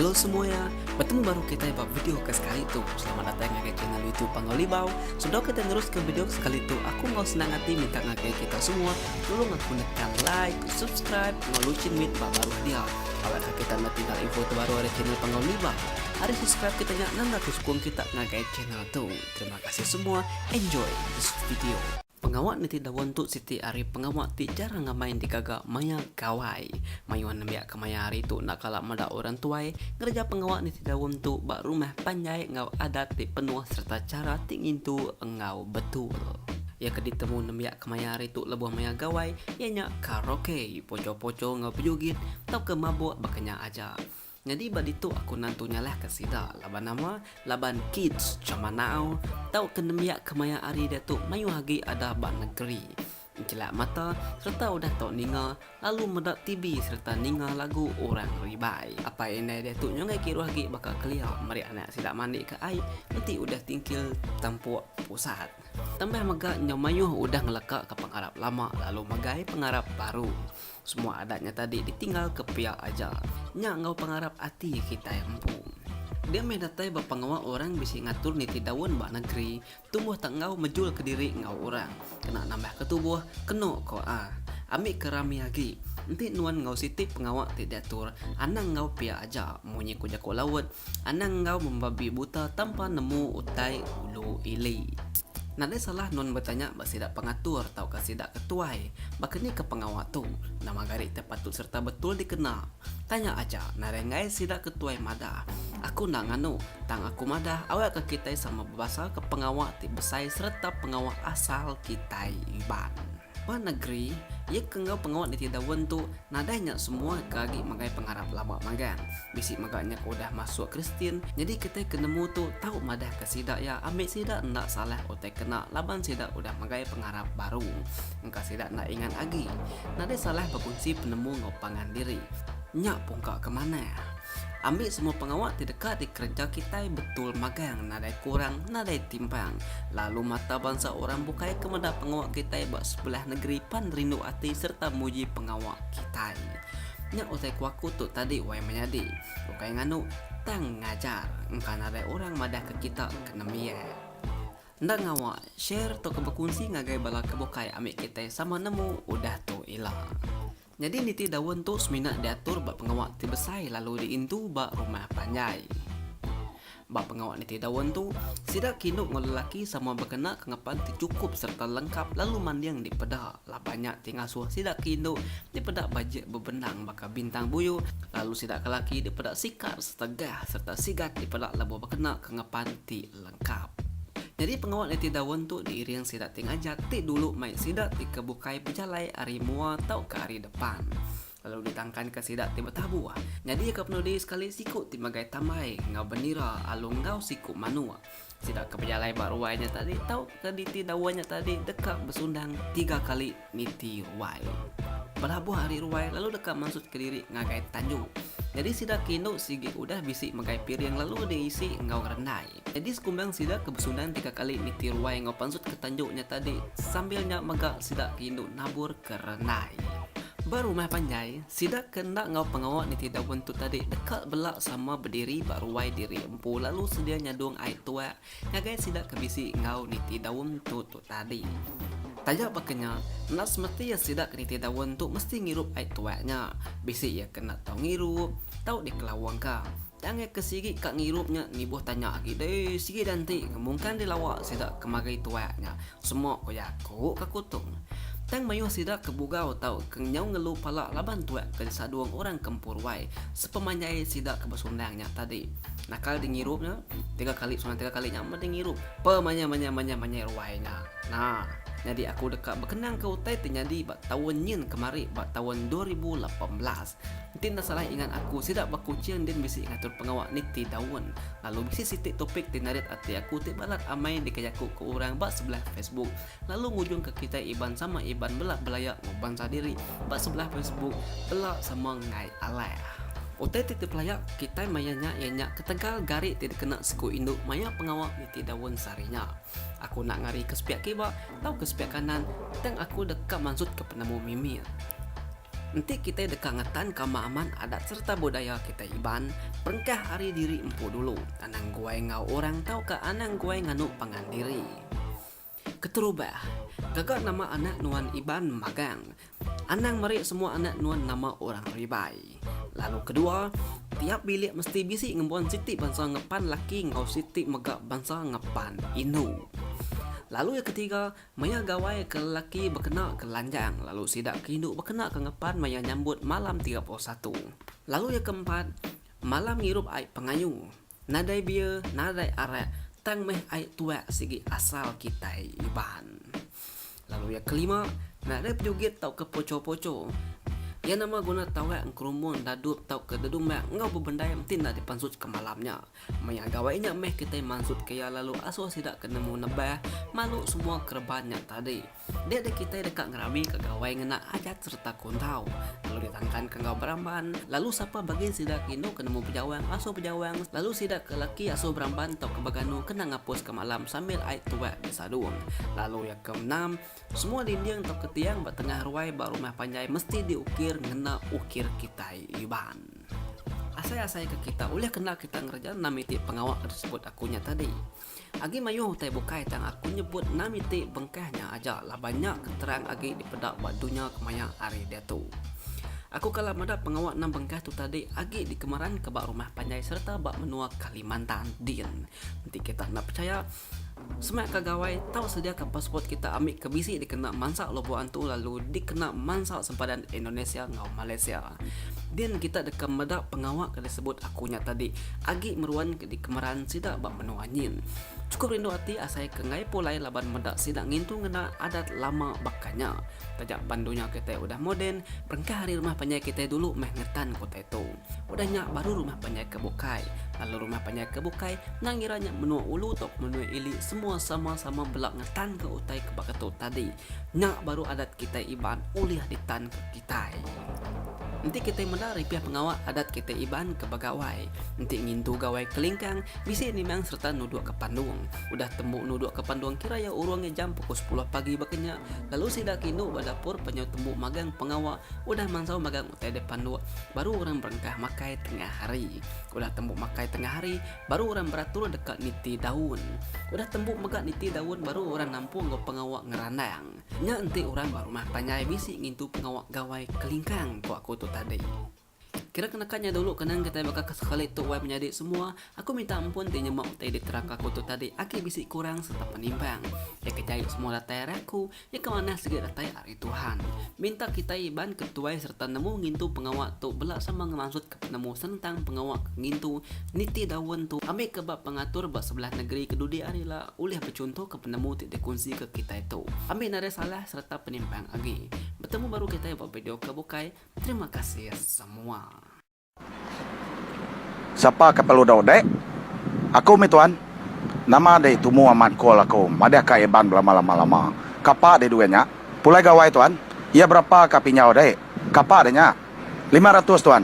Hello semuanya, bertemu baru kita ba video ke sekali tu. Selamat datang ngagai channel YouTube Pangau Libau. Sebelum kita terus ke video ke sekali tu, aku mau senang hati minta ngagai kita semua tolong aku nekan like, subscribe, ngau lucin mit ba baru dia. Awak ke kita nak tinggal info terbaru dari channel Pangau Libau. Hari subscribe kita nya nang aku sukung kita ngagai channel Tu terima kasih semua enjoy this video. Pengawa niti daun tu siti ari pengawa ti jarang ngamai digaga maya gawai. Mayuh nembiak ke maya hari tu enda kala meda orang tuai ngereja pengawa niti daun tu ba rumah panjai enggau adat ti penuh sereta chara ti ngintu enggau betul. Iya ke ditemu nembiak ke maya hari tu lebuh maya gawai iya nya karaoke, poco-poco enggau bejugit tauka mabuk baka nya aja. Nyadi ba ditu aku nantu nyalahka sida laban nama? Laban kids jaman nau tauka nembiak kemaya ari diatu mayuh agi ada ba nengeri njelak mata sereta udah tau ninga lalu meda TV sereta ninga lagu orang ribai. Apai indai diatu nyunggai kiruh agi baka kelia meri anak sida mandika ai enti udah tingkil tampuk pusat. Tambah mega nyau mayuh udah ngelekaka pengarap lama lalu megai pengarap baru. Semua adat nya tadi ditinggal ke piak aja. Nya enggau pengarap ati kitai empu. Dia mih datai ba pengawa orang bisi ngatur niti daun ba negeri, tumbuh tak enggau mejul ke diri enggau orang. Kena nambah ke tubuh, keno ko a. Ambi ke rami agi. Enti nuan enggau siti pengawa ti diatur, anang enggau piak aja, munyi ko jako laut, Anang enggau membabi buta tanpa nemu utai ulu ili. Nadai salah nun betanya ba sida pengatur tauka sida ke tuai, baka ni ke pengawa tu, nama gari ti patut sereta betul dikena. Tanya aja nadai enggai sida ke tuai madah, aku enda nganu, tang aku madah awakka kitai sama bebasaka pengawa ti besai sereta pengawa asal kitai Iban. Ba negeri iya ke enggau pengawa nitih daun tu, nadai nya semua ke agi magai pengarap lama magang. Bisi mega nya ke udah masuk Kristian, nyadi kitai ke nemu tu tau madahka sida iya ambi sida enda salah utai kena laban sida udah magai pengarap baru. Engka sida enda ingat agi. Nadai salah bekunsi penemu enggau pangan diri. Nya pungka ke manah. Ambi semua pengawa ti deka dikereja kitai betul magang nadai kurang nadai timbang. Lalu mata bansa orang bukai ke meda pengawa kitai ba sebelah negeri pan rindu ati sereta muji pengawa kitai. Nya utai ku aku tu tadi wai menyadi. Ukai nganu, tang ngajar. Engka nadai orang madahka kita ke nembiak. Enda ngawa, share tauka bekunsi ngagai bala ke bukai ambi kitai sama nemu udah tu ila. Nyadi niti daun tu semina diatur ba pengawa ti besai lalu diindu ba rumah panjai. Ba pengawa niti daun tu, sida kinu enggau lelaki sama bekena kengepan ti chukup sereta lengkap lalu manding dipeda laban nya ti ngasuh sida ke indu dipeda bajik bebendang baka bintang buyu lalu sida ke laki dipeda sikar setegah sereta sigat dipeda lebuh bekena kengepan ti lengkap. Kap. Nyadi pengawa liti daun tu diiring sida ti ngajat ti dulu mai sida ti ke bukai bejalai ari mua tauka ari depan. Lalu ditangkanka sida ti betabuh. Nyadika penudi sekali siku ti magai tambai enggau bendira alu enggau siku manuk. Sida ke bejalai ba ruai nya tadi tauka liti daun nya tadi deka besundang tiga kali. Niti Ruai. Belabuh ari Ruai lalu deka mansut kediri ngagai Tanjung. Nyadi sida ke indu sigi udah bisi megai piring lalu diisi enggau rendai. Nyadi sekumbang sida ke besundan tiga kali niti Ruai enggau pansut ke Tanjung nya tadi sambil nya mega sida ke indu nabur ke rendai. Ba rumah panjai, sida ke enda enggau pengawa niti daun tu tadi deka bela sama bediri ba ruai diri empu lalu sedia nyadung ai tuak Ngagai sida ke bisi enggau niti daun tu tu tadi. Taja baka nya, enda semeti iya sida ke niti daun tu mesti ngirup ai tuai nya. Bisi iya ke enda tau ngirup, tau dikelawangka. Tang ngagai ke sigi ka ngirup nya nibuh tanya agi deh, sigi da enti ngemungkan dilawa sida ke magai tuai nya. Semua ko iya aku ka kutong. Tang mayuh sida ke bugau tau ke nyau ngelu pala laban tuak ke disadong orang kempur wai sepemanjai sida ke besundang nya tadi. Nakal di ngirup nya, tiga kali sundang tiga kali nya meda ngirup pe manya manya manya manya ruai nya. Na, nyadi aku deka bekenangka utai ti nyadi ba taun nyin kemari ba taun dua ribu lapan belas. Din enda salah ingat aku sida ba Kuching din bisi ngatur pengawa niti daun lalu bisi siti topik ti narit ati aku ti balat amai dikejaku ke orang ba sebelah Facebook lalu ngujung ke kitai Iban sama Iban bela belaya enggau bansa diri ba sebelah Facebook bela sama enggai alah. Utai ti dipelaya kitai maya nya iya nya ketegal gari ti dikena siku indu maya pengawa niti daun sehari nya. Aku enda ngari ke sepiak kiba tau ke sepiak kanan tang aku deka mansut ke penemu mimit. Enti kitai deka ngetan ka amat-amat adat sereta budaya kitai Iban, perengkah ari diri empu dulu, anang guai enggau orang tauka anang guai nganu pangan diri. Keterubah, gaga nama anak nuan Iban magang, anang meri semua anak nuan nama orang Ribai. Lalu kedua, tiap bilik mesti bisi ngembuan siti bansa ngepan laki enggau siti mega bansa ngepan indu. Lalu iya ketiga, Maya gawai ke lelaki bekena ke lanjang lalu sida ke indu bekena ke ngepan maya nyambut malam tiga puluh satu. Lalu iya ke empat, malam ngirup ai pengayu. Nadai bia, nadai arak, tang meh ai tuak sigi asal kitai Iban. Lalu iya ke lima, nadai pejugit tauka poco-poco. Iya nama guna tauak engkerumbung dadup tauka dedumbak enggau bebendai enti enda dipansutka malam nya. Maya gawai nya meh kitai mansutka iya lalu asuh sida ke nemu nebah malu semua kereban nya tadi. Dia deh kitai deka ngeramika gawai ngena ajat sereta kundau lalu ditangkanka enggau beramban lalu sapa bagi sida ke indu ke nemu bejawang asuh bejawang lalu sida ke laki asuh beramban tauka beganu kena ngapuska malam sambil ai tuak besadung lalu iya ke enam semua dinding tauka tiang ba tengah ruai ba rumah panjai mesti diukir ngena ukir kitai Iban. Asai-asai ke kita ulih kena kita ngereja enam iti pengawa ke disebut aku nya tadi. Agi mayuh utai bukai tang aku nyebut enam iti bengkah nya aja laban nya ke terang agi dipeda ba dunya kemaya hari diatu. Aku kala meda pengawa enam bengkah tu tadi agi dikemeranka ba rumah panjai sereta ba menua Kalimantan din. Enti kita enda pechaya, Semak ka gawai tau sedia ka passport kita ambi ke bisi dikena mansa lubok antu lalu dikena mansa sempadan Indonesia enggau Malaysia. Din kita deka meda pengawa ke disebut aku nya tadi agi meruan ke dikemeran sida ba menua nyin. Chukup rindu ati asai ke enggai pulai laban meda sida ngintu ngena adat lama baka nya. Taja pan dunya kitai udah moden, berengkah ari rumah panjai kitai dulu meh ngetan ke utai tu. Udah nya baru rumah panjai ke bukai. Lalu rumah panjai ke bukai endang ngira nya menua ulu tau ke menua ili semua sama-sama bela ngetan ke utai ke baka tu tadi. Nya baru adat kitai Iban ulih ditan ke kitai. Enti kitai meda ripih pengawa adat kitai Iban ke begawai. Enti ngintu gawai kelingkang bisi nimang sereta nuduk ke pandung. Udah tembu nuduk ke pandung kira iya urung iya jam pukul sepuluh pagi baka nya lalu sida ke indu ba dapur penyau tembu magang pengawa udah mansau magang Utai dek panduk, baru orang berengkah makai tengah hari. Udah tembu makai tengah hari, baru orang beratur deka niti daun. Udah tembu mega niti daun baru orang nampung enggau pengawa ngerandang. Nya enti orang ba rumah panjai bisi ngintu pengawa gawai kelingkang, ku aku tu tadi. Kira ke naka nya dulu kenang kitai baka ke sekali tu wai menyadi semua, aku minta ampun ti nyema utai diterangka aku tu tadi agi bisi kurang sereta penimbang. Iya ke jai semua datai ari aku. Nya ke manah sigi datai ari Tuhan. Minta kitai iban ke tuai sereta nemu ngintu pengawa tu bela sama ngemansut ke penemu senentang pengawa ke ngintu niti daun tu ambi ke ba pengatur ba sebelah negeri ke dudi hari ila ulih bechunto ke penemu ti dikunsi ke kitai tu ambi narai salah sereta penimpang agi. Betemu baru kitai ba video ke bukai. Terima kasih semua. Sapa ke perlu dau dek? Aku mih tuan. Nama deh tumu amat call aku madah ka Iban belama lama lama. Kapa deh duit nya? Pulai gawai tuan. Iya berapa ka pinjau deh? Kapa deh nya? Lima ratus tuan.